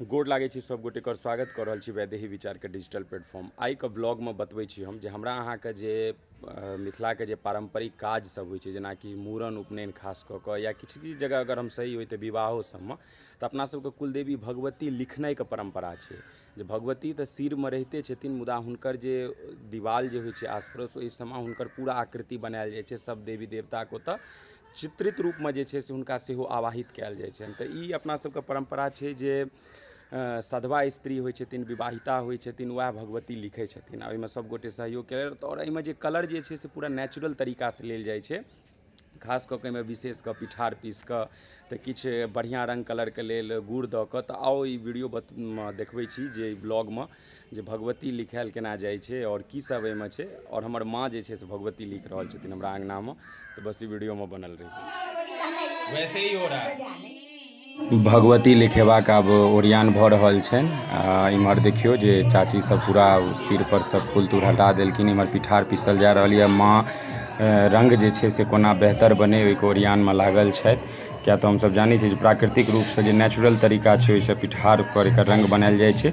गोड़ लागै छी सब गोटे कर स्वागत कर रहल छी वैदेही विचार के डिजिटल प्लेटफॉर्म आइ के ब्लॉग में बतबै छी हम जे हमरा अहाँ के जे मिथिला के जे पारंपरिक काज सब होइ छै जेना कि मूड़न उपनयन खास कऽ कऽ या किछु किछु जगह अगर हम सही होइ तऽ विवाहो सब में तऽ अपना सब के कुलदेवी भगवती लिखनाइ के परम्परा छै जे भगवती तऽ सिर में रहिते छथिन मुदा हुनकर जे दिवाल जे होइ छै आस पड़ोस ओहि सब में हुनकर पूरा आकृति बनायल जाइ छै सब देवी देवता के ओतऽ चित्रित रूपमे जे छै से हुनका सेहो आवाहित कयल जाइ छनि तऽ ई अपना सबके परम्परा छै जे सधबा स्त्री होइ छथिन विवाहिता होइ छथिन वएह भगवती लिखै छथिन आओर ओइमे सब गोटे सहयोग कयलथि आओर अइमे जे कलर जे छै से पूरा नेचुरल तरीकासँ लेल जाइ छै खास कऽ कऽ अइमे विशेष कऽ पीठार पीस कऽ तऽ किछु बढ़िआँ रङ्ग कलरके लेल गुड़ दऽ कऽ तऽ आउ ई वीडियो देखबै छी जे ब्लॉगमे जे भगवती लिखाएल केना जाइ छै आओर की सब एहिमे छै आओर हमर माँ जे छै से भगवती लिख रहल छथिन हमरा अङ्गनामे तऽ बस ई वीडियोमे बनल रही वैसे ही हो रहा है भगवती लिखेबाक आब ओरियान भऽ रहल छनि आ इम्हर देखियौ जे चाची सब पूरा सिर पर सब फूल तूल हटा देलखिन इम्हर पिठार पीसल जा रहल यऽ माँ अ, रंग जे छै से कोना बेहतर बने ओहिके ओरियानमे लागल छथि किया तऽ हमसब जानै छी जे प्राकृतिक रूपसँ जे नेचुरल तरीका छै ओहिसँ पिठार पर एकर रंग बनाएल जाइ छै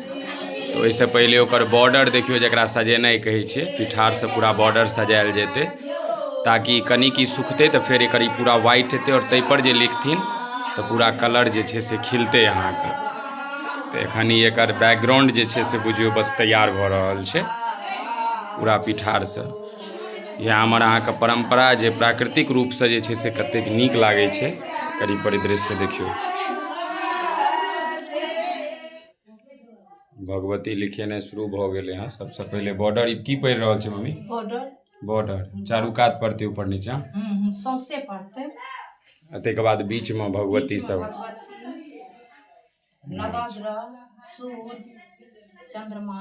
तऽ ओहिसँ पहिले ओकर बॉर्डर देखियौ जकरा सजेनाइ कहै छै पिठारसँ पूरा बॉर्डर सजायल जेतै ताकि कनि की सुखतै तऽ फेर एकर ई पूरा व्हाइट हेतै आओर ताहिपर जे लिखथिन तऽ पूरा कलर जे छै से खिलतै अहाँके तऽ एखन ई एकर बैकग्राउंड जे छै से बुझियौ बस तैयार भऽ रहल छै पूरा पिठारसँ इएह हमर अहाँके परम्परा जे प्राकृतिक रूपसँ जे छै से कतेक नीक लागै छै एकर ई परिदृश्य देखियौ भगवती लिखेनाइ शुरू भऽ गेलै हँ सबसँ पहिले बॉर्डर ई की पढ़ि रहल छै मम्मी बॉर्डर बॉर्डर चारू कात पड़तै ऊपर नीचा सौंसे पड़तै आ ताहिके बाद बीचमे भगवती सब भगवती नवग्रह सूर्य चंद्रमा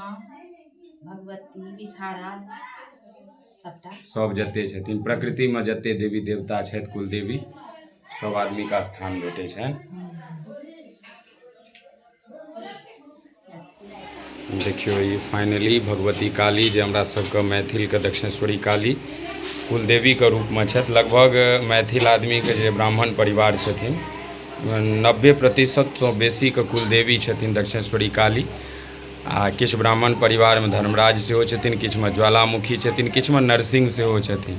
भगवती विषहारा सबटा सब जते छथिन प्रकृतिमे जते देवी देवता छथि कुलदेवी सब आदमीके स्थान भेटै छनि देखियौ ई फाइनली भगवती काली जे हमरा सबके मैथिलके दक्षिणेश्वरी काली कुलदेवीके रूपमे छथि लगभग मैथिल आदमीके जे ब्राह्मण परिवार छथिन नब्बे प्रतिशतसँ बेसीके कुलदेवी छथिन दक्षिणेश्वरी काली आ किछु ब्राह्मण परिवारमे धर्मराज सेहो छथिन किछुमे ज्वालामुखी छथिन किछुमे नरसिंह सेहो छथिन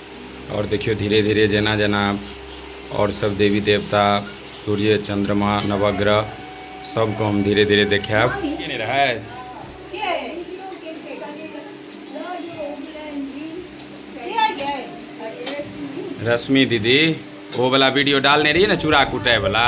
आओर देखियौ धीरे धीरे जेना जेना आओर सभ देवी देवता सूर्य चंद्रमा नवग्रह सभके हम धीरे धीरे देखायब नहि रहै रश्मि दीदी ओ वाला वीडियो डालने रहियै ने चूड़ा कुटाय वाला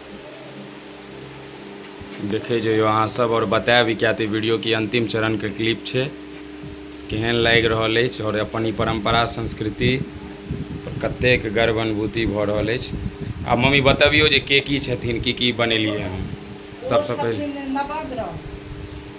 देखै जइयो अहाँ सब आओर बताएब ई किएक तऽ वीडियो की अन्तिम चरणके क्लिप छै केहन लागि रहल अछि आओर अपन ई परम्परा संस्कृति कतेक गर्व अनुभूति भऽ रहल अछि आ मम्मी बतबियौ जे के की छथिन की की बनेलियै हँ सबसँ पहिले